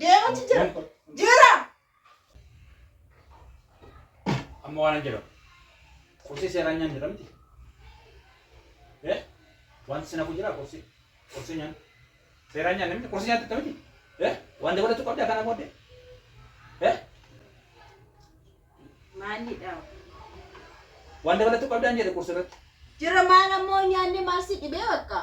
Deemutti jira. Jira. Amma waan jedhamu. Qursii seeraa nyaan jira miti. Eh? Wanti sinafu jira qursii. Qursii nyaan. Seeraa nyaan miti. Qursii nyaatti miti. Eh? Waan dabalatu qabdi akkanaa booddee. Eh? Maalidha? Waan dabalatu qabdaan jedhe qursii irratti. Jira maal ammoo nyaanni maal si dhibee bakka?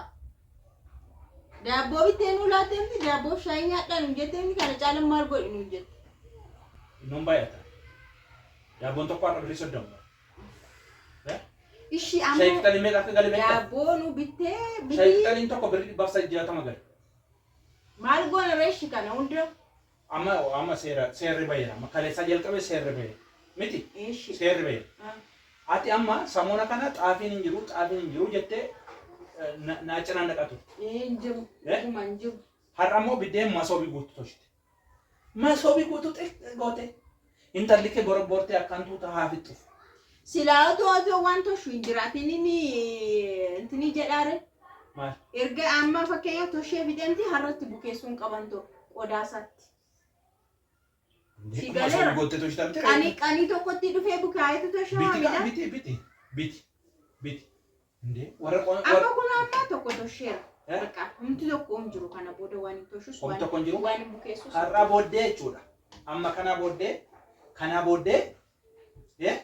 Daabboo bittee nuu laattee miti daabboof shaayii nyaadhaa nuun jettee miti kana caalan maal godhi nuun jette. Innoon baay'ata. Daabboon tokko har'a birrii soddoma. Eh? Ishii Shaayii amma qixaliin meeqa akka gale beektaa? daabboo nu bittee Shaayii bitii qixaliin tokko birrii dhibbaaf saddeet jaatama gale. maal goona reeshi kana hunda Amma hoo amma seera seerri baheera amma kaleessaa jalqabee seerri bahe miti Eeshi. seerri bahe Ah. ati amma samoona kana xaafiin hin jiru xaafiin hin jiru jettee eh, na- naa cinaan dhaqaa turte Ee hin jiru. Eh? Dhuguma hin jiru. har'a immoo biddeen masoobii guutuu tolchite masoobii guutuu xiqqoo goote Intalli kee borobboortee akkaan tuuta haa fixxuf. Silaa otoo otoo waan toshu hin jiraatin inni intini jedhaare. Maal? Erga amma fakkeenya toshee fidemti harratti bukeessuun qaban too qodaasaatti. Beekuma galeera. osoo goottee toshita miti Qanii reefu. qanii tokkotti dhufee bukaayetu toshaa Biti kaa waamila. biti biti biti biti. እንዴ ወረ ቆን Amma kun amma tokko tosheera. Eh? Bakka humti tokko hin jiru kana booda waan hin toshus Humti tokko hin jiru? waan hin bukeessus. har'aa booddee jechuudha. Amma kanaa booddee kanaa booddee eh,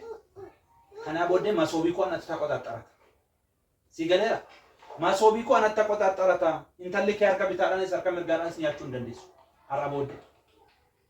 kanaa booddee masoobii koo anatti taqoxaxxarata. Si galeera? Masoobii koo anatti taqoxaxxarata. Intalli kee harka bitaadhaanis harka mirgaadhaanis nyaachuu hin dandeessu. Har'aa booddee.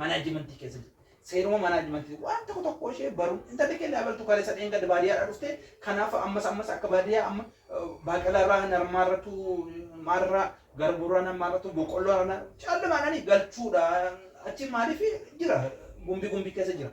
Manaajimantii keessa jirti. Seeruma manaajimantii waan tokko tokko ishee baruun intalli keenya abaltu kalee sadeen gad baadiyyaadhaa dhufte kanaaf ammas ammas akka baadiyyaa amma baaqelaarraa narmaarratu maalirraa garbuurraa narmaarratu boqqolloorraa callimaadhaan galchuudha. Achi maaliif jira gumbi gumbi keessa jira.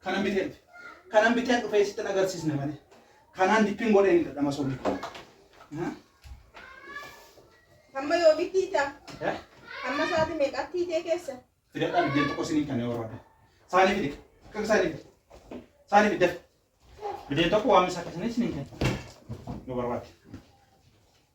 Kanan biteen dhufe. Kanan biteen dhufe isittin agarsiisne malee. Kanaan dippiin godhee ni dadhama soolii kun. Aha. Amma yoomitti hiitaa? Eh? Amma sa'aatii meeqaatti hiitee keessa? Fidadhaa biddeen tokko isiniin kan warraadha. Saanii fide. Kan saanii fide. Saanii fide. Biddeen tokko waan isaa keessanii isiniin kan. Yoo barbaade.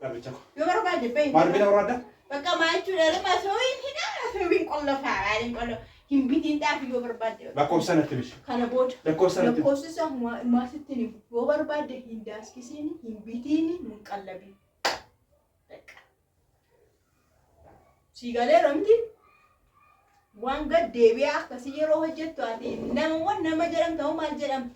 Garbicha koo. Yoo barbaadde bahi. Maal bina barbaadda? Bakka maa jechuudha lama sooyin hidha sooyin qollofaa maaliin qollo hin bitiin dhaafi yoo barbaadde. Lakkoofsa natti himi. Kana booda. Lakkoofsa natti himi. Lakkoofsa isaa maa- maa sitti hin himu. Yoo barbaadde hin daaskisiin hin bitiin hin qallabiin. Bakka. Sii galeera miti waan gad deebi'ee akkasii yeroo hojjettu ati namawwan nama jedhamta hoo maal jedhamta?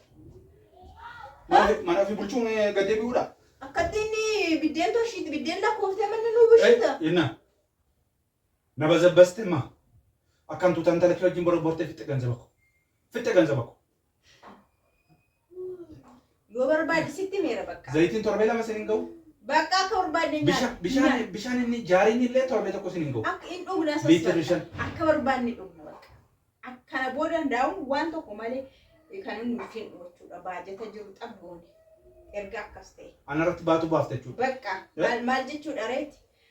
Maaliif mana ofii bulchuun eh, gad deebi'uudha? Akkatti inni biddeen toshiitti biddeen lakkoofte manni nuu bushiita. Eh, Inna na bazabbaste ma akkan tuutaan talakii wajjin borobbortee fixxe ganzaba ko fixxe ganzaba ko Yoo barbaade sitti meera bakka. Zayitiin torbee lama sin hin ga'u. Bakka akka barbaadne nyaata. Bisha- Bishaan bishaan inni jaariin illee torbee tokko sin hin ga'u. Akka hin dhugna sas Liitirri bakka. shan. Akka barbaadne dhugna bakka. Ak- Kana booda hundaa'uun waan tokko malee eh, kan inni nuuf hin jechuudha. Baajata jiru xabboone. Erga akkas ta'e. Anarratti baatuu baafta jechuudha. Bakka Eh? maal maal jechuudha reeti?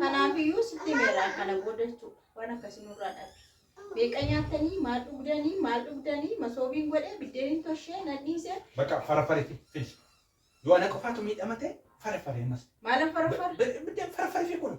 Kanaafiyyuu sitti meeraa kana booda jechuudha. Waan akkasii nurraa dhabe. Beeqa nyaatanii maal dhugdanii maal dhugdanii masoobiin godhee biddeeniin toshee nadhiisee Bakka farafare fi fidi. Yoo ana qofaatu miidhama ta'e farafare ammas. maala farfara. Biddeen farafare fi kun.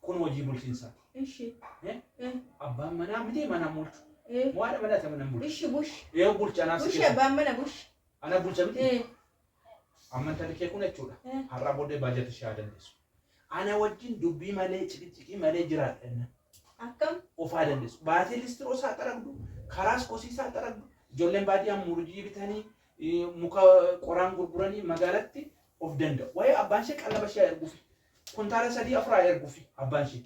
Kun hojii bulchiinsaati. Ishi. Eh? Eh. Abbaan manaa miti manaan bulchu. Eh. Moo haadha manaa ta'e manaan bulchu. Ishi bush. Yoo bulcha anaa si Bush keessa. abbaan mana bush. Ana bulcha miti. Eh. Amma intalli kee kun jechuudha. Eh. Har'aa booddee baajata ishee haa dandeessu. Ana wajjin dubbii malee ciqiciqii malee jiraadha jenna. Akkam. Of haa dandeessu. Baatee listiroo isaa xaragdu, karaas kosii isaa xaragdu, ijoolleen baadiyyaa murjii bitanii eh, muka qoraan gurguranii magaalatti of danda'u. Waa'ee abbaan ishee qallaba ishee haa erguuf. Kuntaala sadii afur haa ergufi abbaan ishii.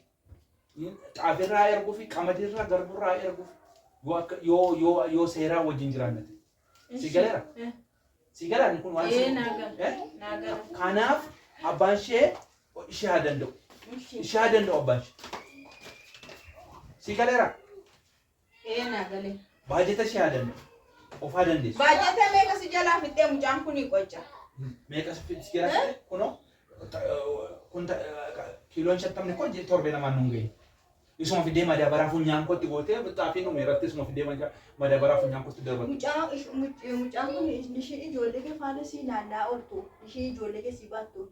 Xaafii irraa haa ergufi, qamadii irraa, garbuu irraa haa ergufi. Yoo akka yoo yoo yoo seeraa wajjin jiraanna ta'e. Si galeera? Eh, Si galaan kun waan eh, naa gala. Eh? Naa gala. Kanaaf abbaan ishee ishee haa danda'u. Ishee. Ishee haa danda'u abbaan ishee. Si galeera? Ee naa galee. Baajata ishee haa danda'u. Ofaa dandeessu. Baajata meeqa si jalaa fixxee mucaan kuni qocca. Meeqa si si jalaa fixxee kunoo kun kiiloon shantamni kun torbee lamaan nuun ga'e. Isuma fidee madaabaraa funyaan kootti gootee xaafiin dhume irratti isuma fidee madaabaraa funyaan kootti darbatu. Mucaan kun ishii ijoollee kee faana sii naannaa ooltu ishii ijoollee kee sii baattu.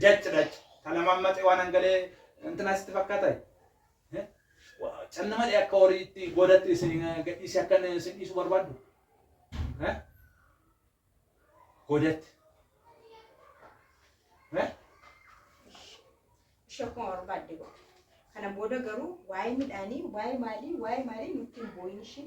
Dac dac ta lamammaxe waan hangalee intinaa sitti fakkaatai? Eh? Wa- Calli malee akka horii itti goodatti isin eh, gadhiisee akka inni isin dhiisu barbaaddu? Eh? Goodatti. Eh? Ishee akkuma barbaadde godhe. Kana booda garuu waa'ee midhaanii, waa'ee maalii, waa'ee maalii nutti hin boo'in ishee.